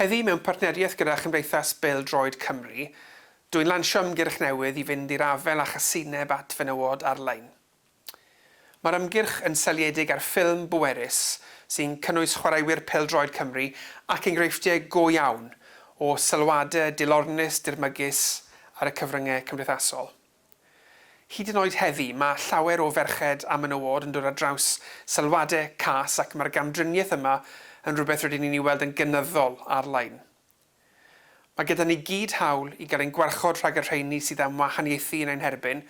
Heddi, mewn partneriaeth gyda Chymdeithas Bêl-droed Cymru, dw i'n lansio ymgyrch newydd i fynd i'r afael â chasineb at fenywod ar-lein. Mae'r ymgyrch yn seiliedig ar ffilm bwerus sy'n cynnwys chwaraewyr pêl-droed Cymru ac enghreifftiau go iawn o sylwadau dilornus dirmygus ar y cyfryngau cymdeithasol. Hyd yn oed heddi, mae llawer o ferched a menywod yn dod ar draws sylwadau cas ac mae'r gamdriniaeth yma yn rhywbeth rydyn ni'n ei weld yn gynyddol ar-lein. Mae gyda ni gyd hawl i gael ein gwarchod rhag y rheini sydd am wahaniaethu yn ein herbyn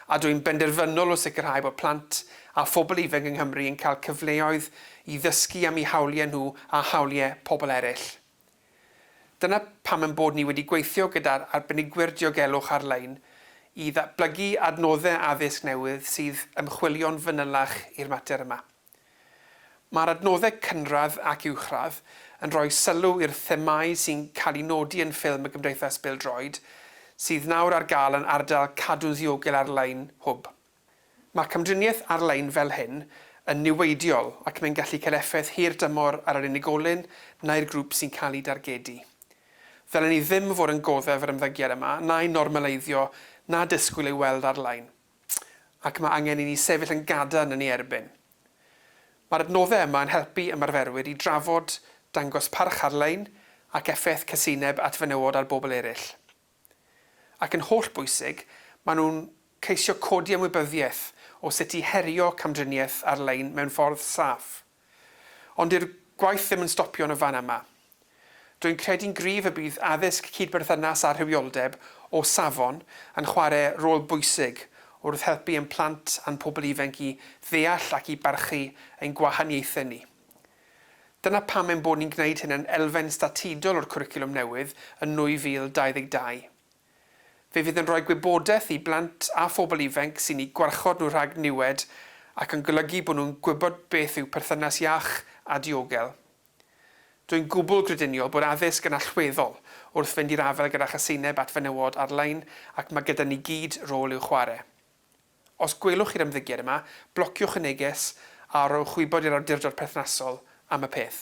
a dw i'n benderfynol o sicrhau bod plant a phobl ifanc yng Nghymru yn cael cyfleoedd i ddysgu am eu hawliau nhw a hawliau pobl eraill. Dyna pam ein bod ni wedi gweithio gyda'r arbenigwyr diogelwch ar-lein i ddatblygu adnoddau addysg newydd sydd ymchwilio'n fanylach i'r mater yma. Mae'r adnoddau cynradd ac uwchradd yn rhoi sylw i'r themâu sy'n cael eu nodi yn ffilm y Gymdeithas Bêl-droed sydd nawr ar gael yn ardal Cadw'n Ddiogel Ar-lein Hwb. Mae camdriniaeth ar-lein fel hyn yn niweidiol ac mae'n gallu cael effaith hir dymor ar yr unigolyn neu'r grŵp sy'n cael ei dargedu. Ddylen ni ddim fod yn goddef yr ymddygiad yma, na'i normaleiddio, na disgwyl ei weld ar-lein. Ac mae angen i ni sefyll yn gadarn yn ei erbyn. Mae'r adnoddau yma yn helpu ymarferwyr i drafod, dangos parch ar-lein, ac effaith casineb at fenywod ar bobl eraill. Ac yn hollbwysig, maen nhw'n ceisio codi ymwybyddiaeth o sut i herio camdriniaeth ar-lein mewn ffordd saff. Ond dyw'r gwaith ddim yn stopio yn y fan yma. Rwy'n credu'n gryf y bydd addysg cyd-berthynas a rhywioldeb o safon yn chwarae rôl bwysig wrth helpu ein plant a'n pobl ifainc i ddeall ac i barchu ein gwahaniaethau ni. Dyna pam ein bod ni'n gwneud hyn yn elfen statudol o'r cwricwlwm newydd yn 2022. Fe fydd yn rhoi gwybodaeth i blant a phobl ifainc sy'n eu gwarchod nhw rhag niwed ac yn golygu bod nhw'n gwybod beth yw perthynas iach a diogel. Dwi'n gwbl grediniol bod addysg yn allweddol wrth fynd i'r afael gyda chaseineb at fenywod ar-lein ac mae gyda ni gyd rôl i'w chwarae. Os gwelwch chi'r ymddygiad yma, blociwch y neges a rhowch wybod i'r awdurdod perthnasol am y peth.